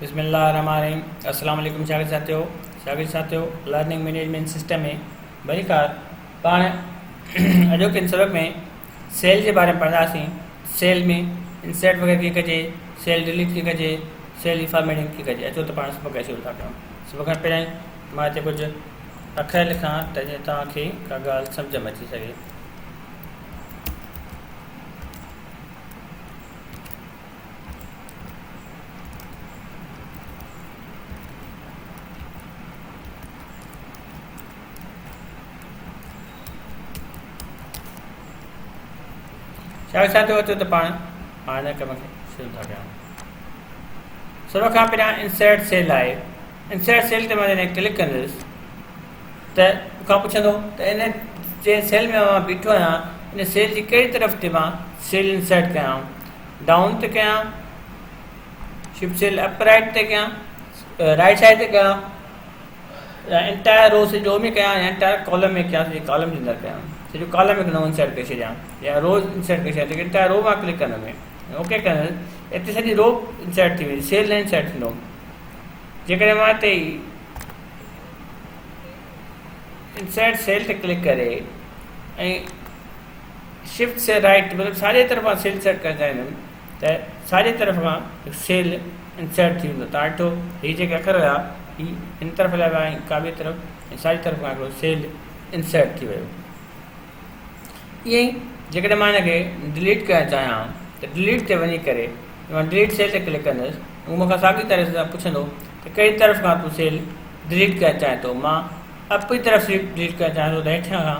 بسم الله الرحمٰن الرحيم اسلام عليڪم شاگرد ساٿيو شاگرد ساٿيو لرننگ مينيجمينٽ سسٽم ۾ ڀليڪار پاڻ اڄوڪي سبق ۾ سيل جي باري ۾ پڙهنداسين سيل ۾ انسرٽ وغيرہ ڪيئن ڪجي سيل ڊيليٽ ڪيئن ڪجي سيل جي فارميٽنگ ڪيئن ڪجي اچو ته پاڻ سبق کي شروع ٿا ڪريون سبق کان پهريائين مان هتي ڪجهه اکر لکان ته جيئن توهانکي ڪا ڳالهه سمجھ ۾ اچي سگهي شايد ڇا ٿيو اچو ته پاڻ مان هن ڪم کي شروع ٿا ڪيان سڀ کان پهريان انسرٽ سيل آهي انسرٽ سيل تي مان جڏهن ڪلڪ ڪندس ته کان پڇندو ته ان جنهن سيل ۾ مان بيٺو آهيان ان سيل جي ڪهڙي طرف تي مان سيل انسرٽ ڪيان ڊائون تي ڪيان شفٽ سيل اپ رائٽ تي ڪيان رائٽ سائيڊ تي ڪيان يا انٽائر رو سي جو ۾ ڪيان يا انٽائر ڪالم ۾ ڪيان سي ڪالم جي اندر ڪيان سي جو ڪالم ۾ نو انسرٽ ڪري ڇڏيان يا رو انسرٽ ڪري ڇڏيان سي انٽائر رو مان ڪلڪ ڪندم اوڪي ڪندم اتي سڄي رو انسرٽ ٿي ويندي سيل نه انسرٽ ٿيندو جيڪڏهن مان اتي انسرٽ سيل تي ڪلڪ ڪري ۽ شفٽ سي رائيٽ مطلب ساڄي طرف کان سيل سيليڪٽ ڪرڻ چاهيندم ته ساڄي طرف کان هڪ سيل انسرٽ ٿي ويندو تان ڏٺو هي جيڪي اکر هيا هي هن طرف هليا ويا ۽ ڪاٻي طرف ۽ ساڄي طرف کان هڪڙو سيل انسرٽ ٿي ويو ائين ئي جيڪڏهن مان هن کي ڊليٽ ڪرڻ چاهيان ته ڊليٽ تي وڃي ڪري مان ڊليٽ سيل تي ڪلڪ ڪندس هو مون کان ساڳي طرح سان پڇندو ته ڪهڙي طرف کان تون سيل ڊليٽ ڪرڻ چاهين ٿو مان اپ جي طرف سيل ڊليٽ ڪرڻ چاهيان ٿو ته هيٺيان کان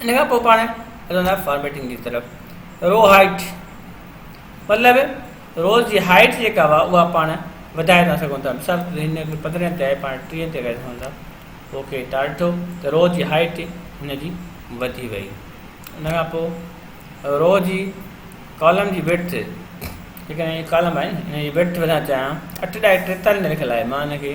ان کان پوء پاڻ هلندا فارميٽنگ جي طرف رو هائيٽ مطلب روز جي هائيٽ جيڪا هوا اها پاڻ وڌائي ٿا سگهون ٿا مثال طور هن کي پندرهن تي آهي پاڻ ٽيهن تي ڪري سگهون ٿا پوء کي تار ڏٺو ته رو جي هائيٽ هن جي وڌي وئي ان کان پوء رو جي ڪالم جي ويٽ جيڪڏهن هي ڪالم آهي هن جي ويٽ وڌائڻ چاهيان اٺ ڏائي ٽيتالي ۾ لکيل آهي مان هن کي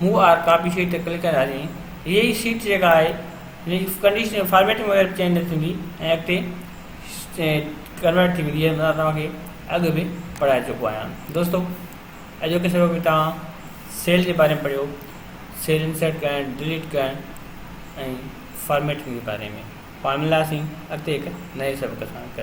مون آر ڪاپي شيٽ تي ڪلڪ ڪري ھاري ھئي ھيء ئي شيٽ جيڪا آھي جنھن جي ڪنڊيشن فارميٽنگ وغيره به چينج نه ٿيندي ۽ اڳتي ڪنورٽ ٿي ويندي جيئن توھان کي اڳ به پڙھائي چڪو آھيان دوستو اڄوڪي سبق ۾ توھان سيل جي باري ۾ پڙھيو سيل انسرٽ ڪرڻ ڊليٽ ڪرڻ ۽ فارميٽنگ جي باري ۾ پاڻ ملياسين اڳتي ھڪ نئين سبق سان